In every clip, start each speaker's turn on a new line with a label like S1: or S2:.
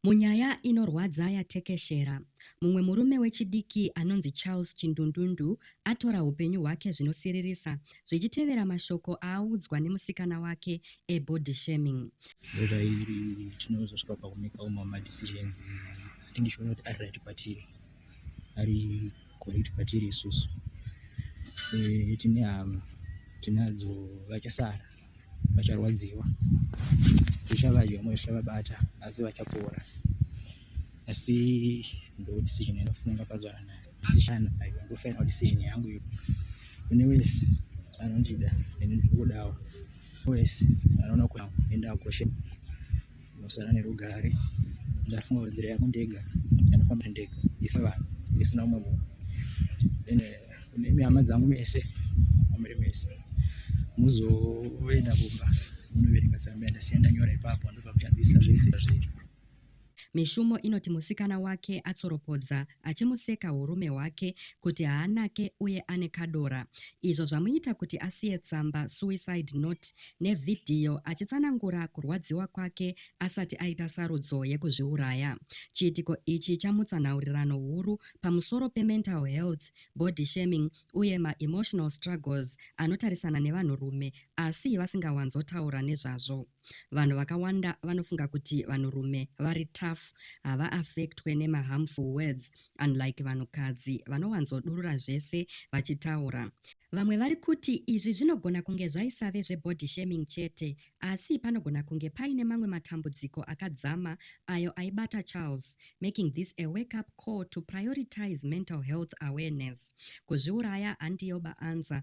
S1: Munyaya inorwadza yatekeshera, mumwe murume wechidiki anonzi Charles Chindundundu atora hupenyu hwake zvinosiririsa zvichitevera mashoko aaudzwa nemusikana wake ebody shaming. Zera iri
S2: tinozosvika pakumekawo mama decisions atingishoona kuti ari right kwatiri ari correct kwatiri isusu eh, tine hama tinadzo vachasara vacharwadziwa zvichavadya vamwe zvichavabata asi vachapora asi ndo decision yandofuna ndakazvara nayo decision ayo ndo final decision yangu iyo kune wese anondida neni ndikudawo wese anoona kuti enda koshe Ndosara nerugare ndafunga kuti nzira yako ndega anofamba ndega isi vanhu isina umwe munhu then eh, kune mihama dzangu mese amuri mese muzoenda kumba munoverenga tsamba yandasiya ndanyora ipapo ndobva kushandisa zvese zviri Mishumo
S1: inoti musikana wake atsoropodza achimuseka hurume hwake kuti haanake uye ane kadora izvo zvamuita kuti asiye tsamba suicide note nevhidhiyo achitsanangura kurwadziwa kwake asati aita sarudzo yekuzviuraya. Chiitiko ichi chamutsa nhaurirano huru pamusoro pemental health, body shaming uye maemotional struggles anotarisana nevanhurume asi vasingawanzotaura nezvazvo. Vanhu vakawanda vanofunga kuti vanhurume vari tough, havaaffectwe nemaharmful words unlike vanhukadzi vanowanzodurura zvese vachitaura. Vamwe vari kuti izvi zvinogona kunge zvaisave zvebody shaming chete asi panogona kunge paine mamwe matambudziko akadzama ayo aibata Charles, making this a wake up call to prioritize mental health awareness. Kuzviuraya handiyo baanza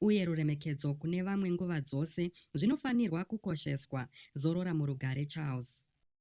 S1: uye ruremekedzo kune vamwe nguva dzose zvinofanirwa kukosheswa. Zorora murugare Charles.